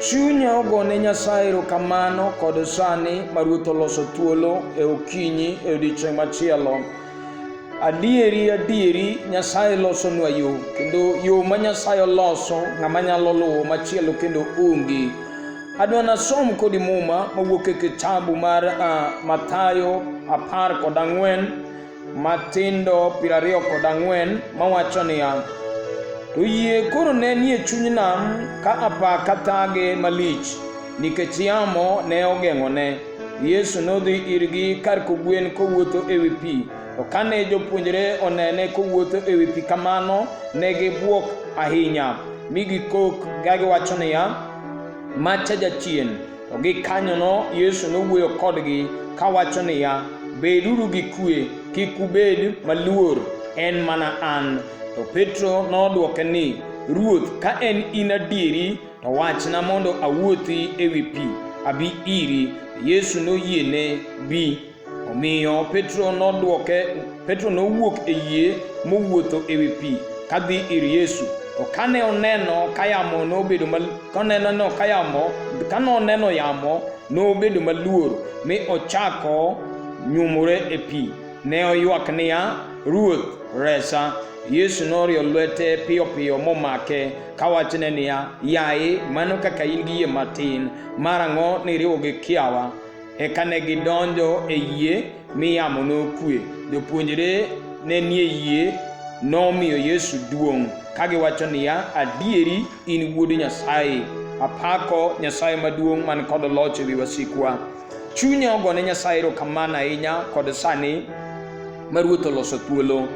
Chunya ogone Nyasaye erokamano kod sani ma Ruoth oloso thuolo e okinyi e odiechieng' machielo. Adieri adieri Nyasaye losonwa yo kendo yo ma Nyasaye oloso ng'ama nyalo luwo machielo kendo onge. Adwa nasom kodi muma mawuok e kitabu mar uh, Mathayo apar kod ang'wen matindo piero ariyo kod ang'wen mawacho niya, To yie koro ne nie chuny nam ka apa ka thage malich nikech yamo ne ogeng'one. Yesu nodhi irgi kar kogwen kowuotho e wi pi. To kane jopuonjre onene kowuotho e wi pi kamano, ne gibwok ahinya, mi gikok kagiwacho niya, Ma cha jachien! To gikanyono Yesu nowuoyo kodgi kawacho niya, Beduru gi kue, kik ubed maluor, en mana an. To Petro nodwoke ni, Ruoth, ka en in adieri, to wachna mondo awuothi e wi pi, abi iri. Yesu noyiene, Bi. Omiyo Petro nodwoke, Petro nowuok e yie mowuotho e wi pi kadhi ir Yesu. To kane oneno ka yamo nobedo mal, kaneno ka yamo, kane oneno yamo nobedo maluor mi ochako nyumore e pi. Ne oywak niya, Ruoth, resa. Yesu norio lwete piyo piyo momake kawachone niya, Yaye, mano kaka in gi yie matin, marang'o niriwo gi kiawa? Eka ne gidonjo e yie mi yamo nokue. Jopuonjre ne nie yie nomiyo Yesu duong' ka giwacho niya, Adieri in wuod Nyasaye. Apako Nyasaye maduong' man kod loch ewi wasikwa. Chunya ogone Nyasaye erokamano ahinya kod sani ma Ruoth oloso thuolo.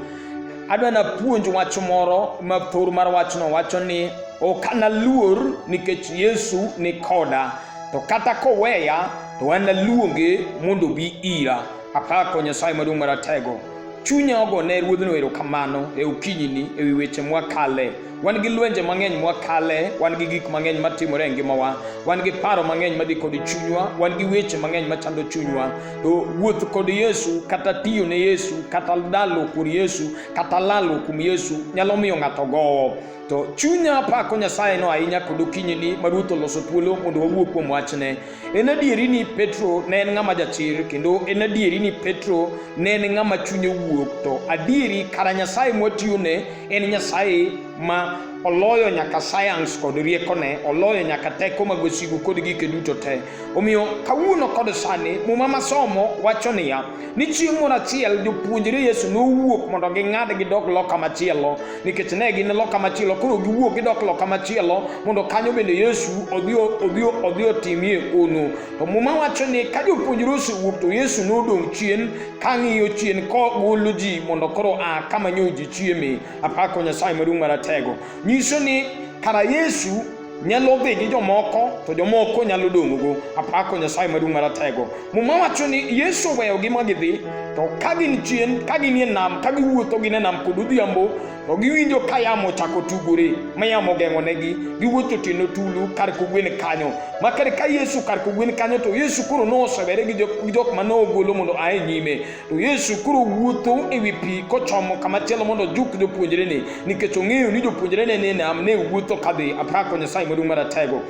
Adwa napuonj wach moro ma thor mar wachno wacho ni ok analuor nikech Yesu ni koda. to kata koweya to an naluonge mondo obi ira apako nyasaye maduong' maratego chunya ogo ne ruodhno erokamano e okinyini e wi weche mwakale wan gi lwenje mang'eny mwakale wan gi gik mang'eny matimore e ngimawa wan gi paro mang'eny madhi kod chunywa wan gi weche mang'eny machando chunywa to wuoth kod yesu kata tiyo ne yesu kata dalo kod yesu kata lalo kuom yesu nyalo miyo ng'ato gowo to chunya apako nyasaye no ahinya kod okinyini ma ruoth oloso thuolo mondo wawuo kuom wachne en adieri ni petro ne en ng'ama jachir kendo en adieri ni petro ne en ng'ama chunye wuok to adieri kara nyasaye mwatiyone en nyasaye ma oloyo nyaka sayans kod riekone oloyo nyaka teko mag wasigu kod gike duto te Omiyo kawuono kod sani muma masomo wacho niya ni chieng' moro achiel jopuonjre Yesu nowuok mondo ging'ad gidog loka machielo nikech ne gin loka machielo koro giwuok gidok loka machielo mondo kanyo bende Yesu odhi odhi odhi otimie hono. To muma wacho ni ka jopuonjre osewuok to Yesu nodong' chien ka ng'iyo chien kogolo ji mondo koro a kama nyo ji chieme. Apako Nyasaye maduong' maratego. Nyiso ni kara Yesu nyalo dhi gi jomoko to jomoko nyalo dong'go apako nyasaye maduong' maratego muma wacho ni yesu oweyogi ma gidhi to ka gin chien ka ginie nam ka giwuotho gine nam kod odhiambo to giwinjo ka yamo chako tugore ma yamo geng'onegi giwuotho tieno tulu kar kogwen kanyo ma kar ka yesu kar kogwen kanyo to yesu koro nosewere gi jok ma nogolo mondo ae nyime To Yesu koro wuotho e wi pi kochomo kama chielo mondo ojuk jopuonjrene nikech ong'eyo ni jopuonjrene ne nam ne wuotho kadhi apako Nyasaye maduong' maratego.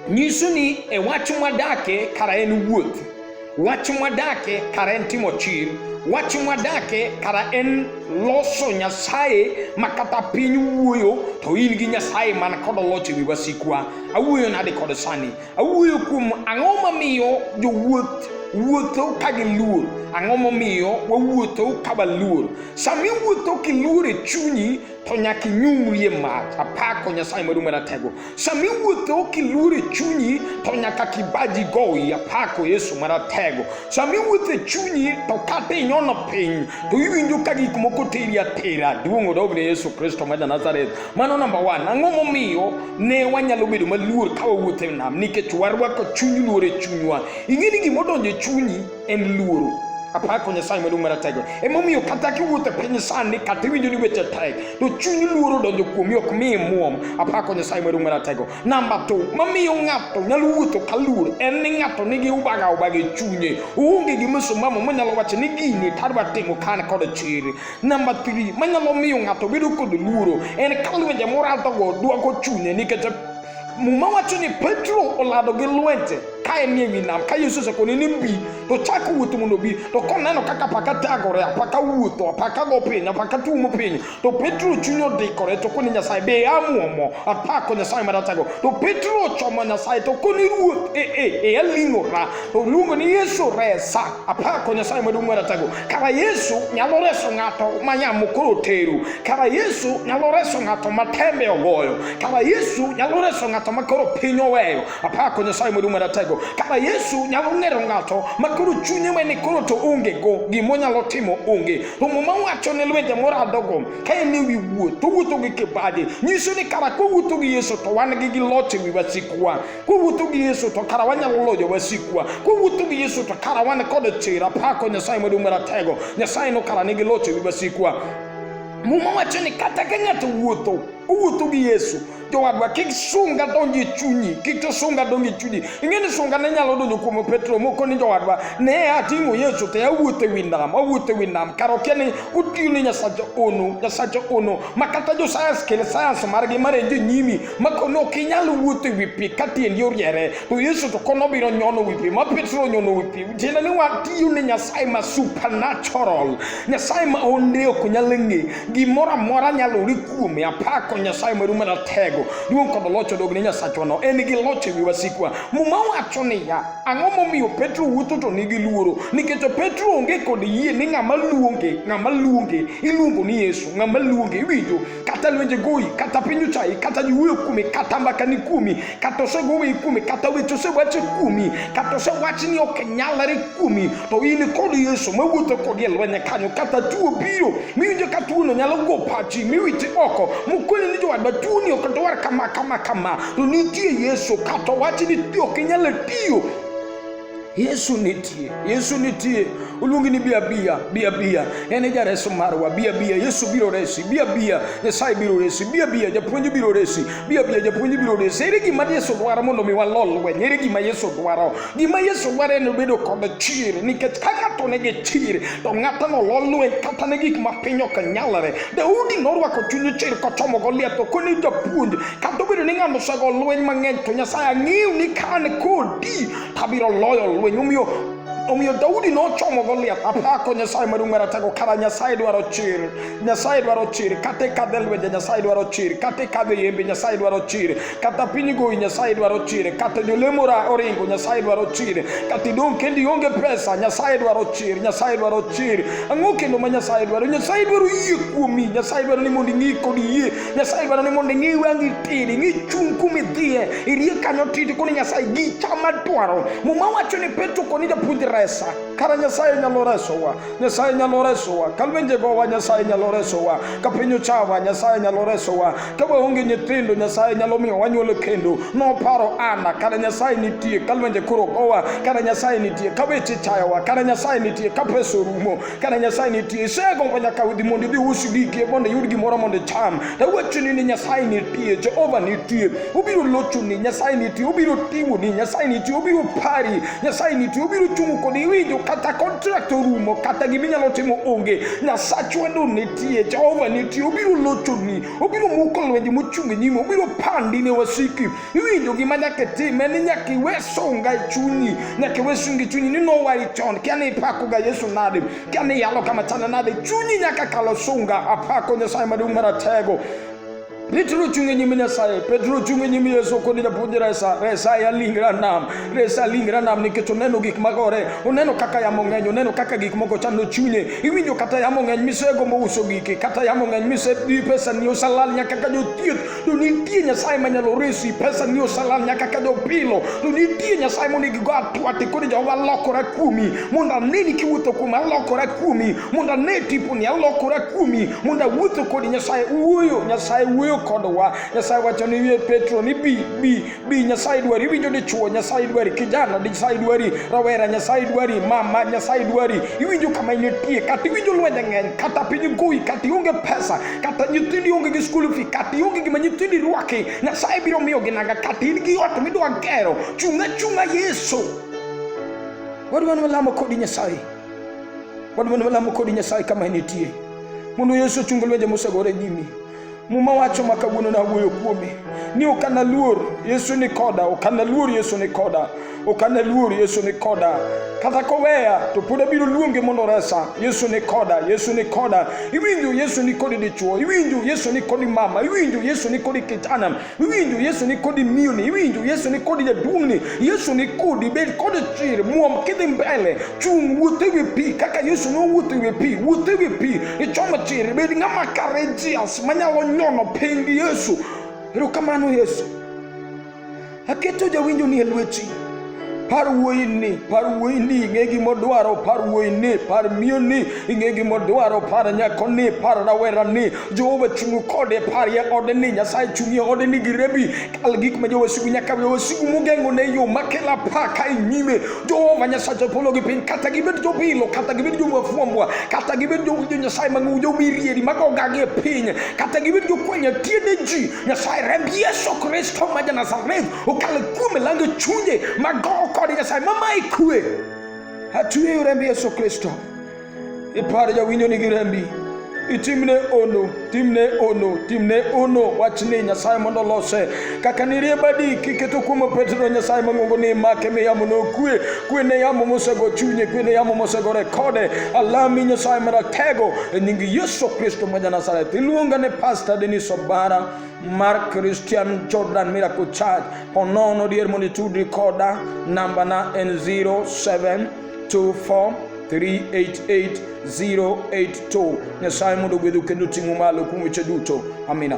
Nyiso ni e wach mwadake kara en wuoth, wach mwadake kara en timo chir, wach mwadake kara en loso Nyasaye ma kata piny wuoyo to in gi Nyasaye man kod loch e wi wasikwa. Awuoyo nade kod sani? Awuoyo kuom ang'o mamiyo jowuoth wuotho ka giluor ang'o momiyo wawuotho ka waluor sama iwuotho kiluor e chunyi to nyaka inyumrie mach apako nyasaye maduong' maratego sama iwuotho kiluor e chunyi to nyaka kibaji goyi apako yesu maratego sama iwuotho e chunyi to kata inyono piny to iwinjo ka gik moko teri atera duong' odogne yesu kristo ma janazareth Mano namba one. Ang'o momiyo ne wanyalo bedo maluor ka wawuotho e nam? Nikech warwako chuny luor e chunywa. Ing'e ni gima odonjo e chunyi en luoro. Apako Nyasaye maduong' maratego. Emomiyo kata kiwuotho e piny sani kata iwinjo ni weche tek, to chuny luoro donjo kuomi ok mi imuom. Apako Nyasaye maduong' maratego. Namba two, mamiyo ng'ato nyalo wuotho ka luor en ni ng'ato nigi ubaga ubaga e chunye. Oonge gi msimamo manyalo wacho ni gini tadwa timo ka an kod chir. Namba 3, manyalo miyo ng'ato bedo kod luoro en ka lwenje moradogo dwako chunye nikech muma wacho ni petro olado gi lwenje ka en ewi nam ka yesu osekone ni bi to chak wuoth mondo bi to koneno kaka apaka tagore apaka wuotho apaka go piny apaka tuomo piny to petro chuny odikore to koni nyasaye be amuomo apako nyasaye maratago to petro ochomo nyasaye to koni ruoth e e e aling'ora to luongo ni yesu resa apako nyasaye maduong' maratago kara yesu nyalo reso ng'ato ma nyamukuru oteru kara yesu nyalo reso ng'ato ma tembe ogoyo kara yesu nyalo reso ng'ato ma koro piny oweyo apako nyasaye maduong' maratego kara yesu nyalo ng'ero ng'ato ma koro chunye mane koro to onge go gimo nyalo timo onge romo ma wacho ne lwenje moradogo ka en ewi wuoth to wuotho gi kibadi nyiso ni kara kowuotho gi yesu to wan gi gi loch ewi wasikwa kowuotho gi yesu to kara wanyalo loyo wasikwa kowuotho gi yesu to kara wan kod chir apako nyasaye maduong' maratego nyasaye no kara nigi loch e wi wasikwa muma wacho ni kata ka ng'ato wuotho owuotho gi yesu jowadwa kik sunga donj e chunyi kik to sunga donj e chunyi ing'e ni sunga ne nyalo donjo kuom petro moko ni jowadwa ne ating'o yesu te awuotho e wi nam awuotho e wi nam kar okia ni otiyo ne nyasacha ono nyasacha ono ma kata josayans kel sayans margi marenjo e nyimi makono ok inyal wuotho e wi pi ka tiendi oriere to yesu to kono biro nyono wi pi ma petro onyono wi pi tiende ni watiyo ne nyasaye ma supernatural nyasaye ma onde ok nyal ng'e gimoro amora nyalore kuome apako nyasaye maru mana tego duong' kod loch odog ne nyasachwano en gi loch e wi wasikwa muma wacho niya ang'o momiyo petro wuotho to nigi luoro nikech petro onge kod yie ni ng'ama luonge ng'ama luonge iluongo ni yesu ng'ama luonge iwinjo kata lwenje goyi kata pinyo chai kata yuweyo kuomi kata mbaka ni kuomi kata osegoweyi kuomi kata weche osewache kuomi kata osewach ni ok nyalre kuomi to in kod yesu mawuotho kodi e lweny kanyo kata tuo biro miwinjo ka tuono nyalo go pachi miwiti oko mokoni ni jowadwa tuoni ok dwar kama kama kama to nitie yesu kata owachi ni ok inyalo tiyo Yesu nitie, Yesu nitie. Uluongi ni bia bia, bia bia. En e jareso marwa, bia bia. Yesu biro resi, bia bia. Nyasaye biro resi, bia bia. Japuonj biro resi, bia bia. Japuonj biro resi. Ere gima Yesu dwaro mondo mi walol lweny? Ere gima Yesu dwaro? Gima Yesu dwaro en bedo kod chir, nikech ka ng'ato nigi chir, to ng'atno lo lweny kata ne gik ma piny ok nyalre. Daudi norwako chuny chir kochomo Goliath, to koni japuonj, kata obedo ni ng'ano osego lweny mang'eny, to Nyasaye ang'eyo ni ka an kodi abiro loyo lweny omiyo omiyo daudi nochomo goliath apako nyasaye maduong' maratego kara nyasaye dwaro chir nyasaye dwaro chir kata ikadhe lwenje nyasaye dwaro chir kata ikadhe yembe nyasaye dwaro chir kata piny goyi nyasaye dwaro chir kata jolemo oringo nyasaye dwaro chir kata idong' kendo ionge pesa nyasaye dwaro chir nyasaye dwaro chir ang'o kendo ma nyasaye dwaro nyasaye dwaro yie kuomi nyasaye dwaro ni mondo ing'i kod yie nyasaye dwaro ni mondo ing'i wangi tiri ing'i chung' kuma idhiye irie kanyo titi koni nyasaye gicha madwaro muma wacho ni petro koni japuonj resa kara nyasaye nyalo resowa nyasaye nyalo resowa kalwenjegowa nyasaye nyalo resowa ka piny ochawa nyasaye nyalo resowa ka waonge nyithindo nyasaye nyalo miyo wanyuolo kendo noparo ana kara nyasaye nitie kalwenje koro gowa kara nyasaye nitie ka weche chayowa kara nyasaye nitie ka pesa orumo Kana Nyasaye nitie, isego mpa nyaka udhi mondo idhi us giki mondo iyud gimoro mondo icham. To awachoni ni Nyasaye nitie, Jehova nitie, obiro lochoni, Nyasaye nitie, obiro ting'oni, Nyasaye nitie, obiro pari, Nyasaye nitie, obiro chungo kodi, iwinjo kata contract orumo, kata gima inyalo timo onge, Nyasach wendo nitie, Jehova nitie, obiro lochoni, obiro muko lwenje mochung' e nyime, obiro pandi ne wasiki. Iwinjo gima nyaka itime ni nyaka iwe sunga e chunyi, nyaka iwe sunga e chunyi ni nowari chon, kia ni ipakoga Yesu nade, kia ni iyalo kama chana nade, chunyi nyaka kalo sunga, apako Nyasaye maduong' maratego Petro ochung' e nyim Nyasaye. Petro ochung' e nyim Yesu kod japuonj resa. Resa ya lingra nam. Resa lingra nam nikech oneno gik magore. Oneno kaka yamo ng'eny. Oneno kaka gik moko chando chunye. Iwinjo kata yamo ng'eny misegombo uso giki. Kata yamo ng'eny misebi pesa ni osalal nyaka ka jothieth to nitie nyasaye manyalo resi pesa ni osalal nyaka kadho pilo to nitie nyasaye mondo igigo atwate koro jehova alokora kuomi mondo aneni kiwuotho kuomi alokora kuomi mondo ane tiponi alokora kuomi mondo awuotho kodi nyasaye wuoyo nyasaye wuoyo kodwa nyasaye wacho ni wiye petro ni bi bi bi nyasaye dwari iwinjo dichuo nyasaye dwari kijana nyasaye dwari rawera nyasaye dwari mama nyasaye dwari iwinjo kama initie kata iwinjo lwenje ng'eny kata piny goyi kata ionge pesa kata nyithindi onge gi skul fi kata ionge gima nyithindi rwaki nyasaye biro miyo ginaga kata in gi ot midwa gero chunga chunga yesu wadwa ni walamo kodi nyasaye wadwa ni walamo kodi nyasaye kama initie mondo yesu ochung lwenje mosegore nyimi Muma wacho ma kawuono nawuoyo kuome ni ok analuor Yesu ni koda, ok analuor Yesu ni koda, ok analuor Yesu ni koda. Kata koweya to pod abiro luonge mondo resa. Yesu ni koda, Yesu ni koda. Iwinjo Yesu ni kodi dichuo, iwinjo Yesu ni kodi mama, iwinjo Yesu ni kodi kijana. iwinjo yesu ni kodi miyoni iwinjo yesu ni kodi jaduong'ni yesu ni kodi bed kod chir muom kidhi mbele chung' wuoth ewi pi kaka yesu nowuotho ewi pi wuoth ewi pi ichom chir bed ng'ama courageous manyalo nyono piny gi yesu erokamano yesu aketo jawinjoni e lweti par wuoyini par wuoyini ing'e gimodwaro par wuoyini par miyoni ing'e gimodwaro par nyakoni par rawerani jehova chung' kode par ye odeni nyasaye chung' ye odeni gi rebi kal gik ma jowasigu nyaka jowasigu mogeng'o ne yo makela pa ka e nyime jehova nyasaye polo gi piny kata gibed jobilo kata gibed jomafwambwa kata gibed jo nyasaye mang'u jomirieri magogagi e piny kata gibed jokwanya tiende ji nyasaye remb yesu kristo ma ja nazareth okalo kuom lando chunje mago kod nyasaye mama ikue atueyo rembi yesu kristo ipar jawinjo nigi rembi itimne ono timne ono timne ono wachni nyasaye mondo olose kaka niriebadi kiketo kuom petro nyasaye mang'ongo ni make mi yamo nokue kwe ne yamo mosego chunye kwe ne yamo mosego rekode alami nyasaye maratego e nying yesu kristo ma ja nazareth iluonga ne pasta denis obara Mark Christian Jordan Miracle Church Honono Dear Monitude Recorder number na N0724 388082 Nyasaye mondo ogwedhu kendo ting'u malo kuom weche duto. Amina.